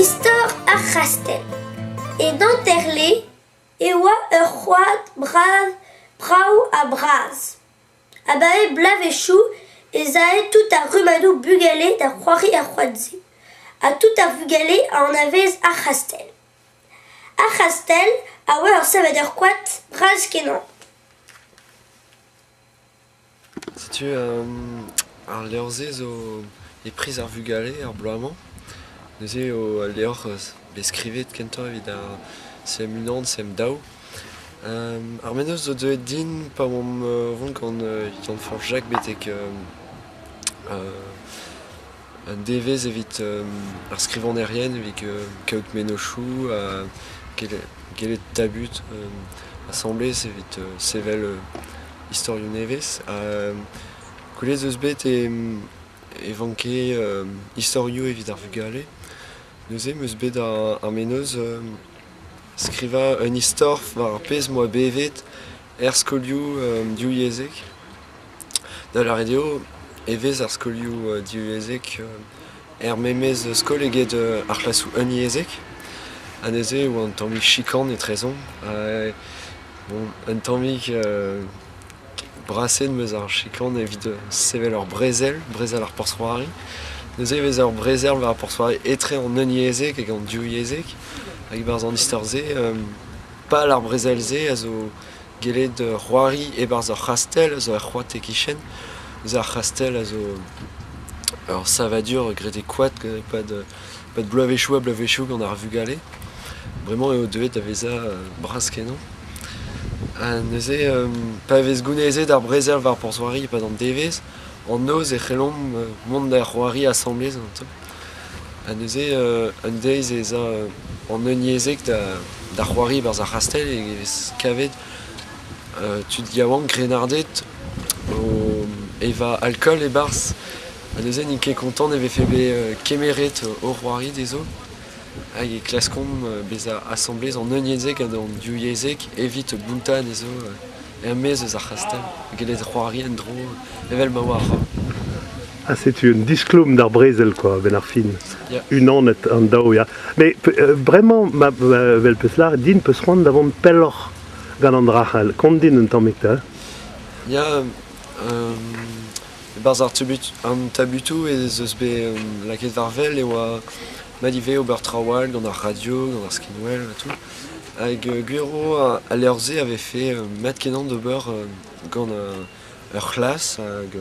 Istor ar c'hastell E Nanterle e oa ur c'hoad bras brav-ha-bras. Abaoe bloavezhioù ez ae tout ar rummadoù bugale da c'hoari er c'hoad-se, ha tout ar vugale a anavez ar c'hastell. Ar c'hastell a oa ur savadur koad bras-kenañ. Setu ar levr-se zo e priz ar vugale ar bloaz-mañ. Neuze eo al levr bet skrivet kentoc'h evit ar sem unan, sem daou. Ar mennozh zo deuet din pa omp o vont gant Yann-Fañch Jacques betek Un devezh evit ar skrivagnerien evit kaout mennozhioù ha gellet tabut asambles evit sevel istorioù nevez. Gwelet 'z eus bet e vanke istorioù evit ar vugale. Neuze 'm eus bet ar mennozh skrivañ un istor war ar pezh 'moa bevet er skolioù divyezhek. Da lâret eo e vez ar skolioù divyezhek er memes skol eget ar c'hlasoù unyezhek. Ha neuze e oa un tammig chikan etrezomp. Ha bon, un tammig braset 'm eus ar chikan evit sevel ur brezel, brezel ar porzh-c'hoari. Neuze e vez ur brezel war ar porzh-c'hoari etre an unyezhek hag an divyezhek. Hag e-barzh an istor-se Pal ar brezel-se a zo gellet c'hoari e-barzh ur c'hastell zo ur c'hoad e-kichen. Zo ar c'hastell a zo ur savadur graet e koad e-pad e-pad bloavezhioù ha bloavezhioù gant ar vugale. Bremañ eo deuet da vezañ bras-kenañ. Ha neuze pa vez gounezet ar brezel war porzh-c'hoari e-pad an devezh, an noz e c'hellomp mont da c'hoari asambles ganto. Ha neuze un deiz ez a an unyezhek da c'hoari barzh ar c'hastell e vez kavet tud yaouank grennarded o evañ alkool e-barzh ha neuze n'int ket kontant e vefe bet kemeret o c'hoari dezho hag e klaskont bezañ asambles an unyezhek hag an div yezhek evit bountañ anezho er-maez eus ar c'hastell gellet c'hoari en-dro evel ma oa ar c'hoar. Ha setu un disklom d'ar brezel quoi, a-benn ar fin. Unanet an daou, ya. Mais euh, vraiment, ma, ma, vel peus lâret din peus c'hoant da vont pelloc'h gant an drac'hell. Kont din un tammig, ta? Ya, euh, e-barzh ar an tabutoù ez eus bet euh, lakaet varvel e oa ma ivez ober traoù all gant ar radio, gant ar skinwell et tout. Hag euh, Gwiro a, a leur-se avait fait euh, mat kenan d'ober euh, gant ur c'hlas hag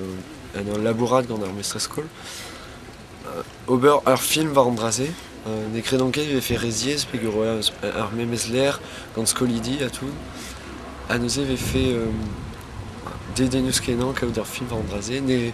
en ul labourat gant ar mestr-skol. ober ur film war an dra-se. ne kredan ket e vefe re ziaes pegoulz eo ar memes lec'h gant skolidi ha tout. Ha neuze e vefe dedenus-kenañ kaout ur film war an dra-se. Ne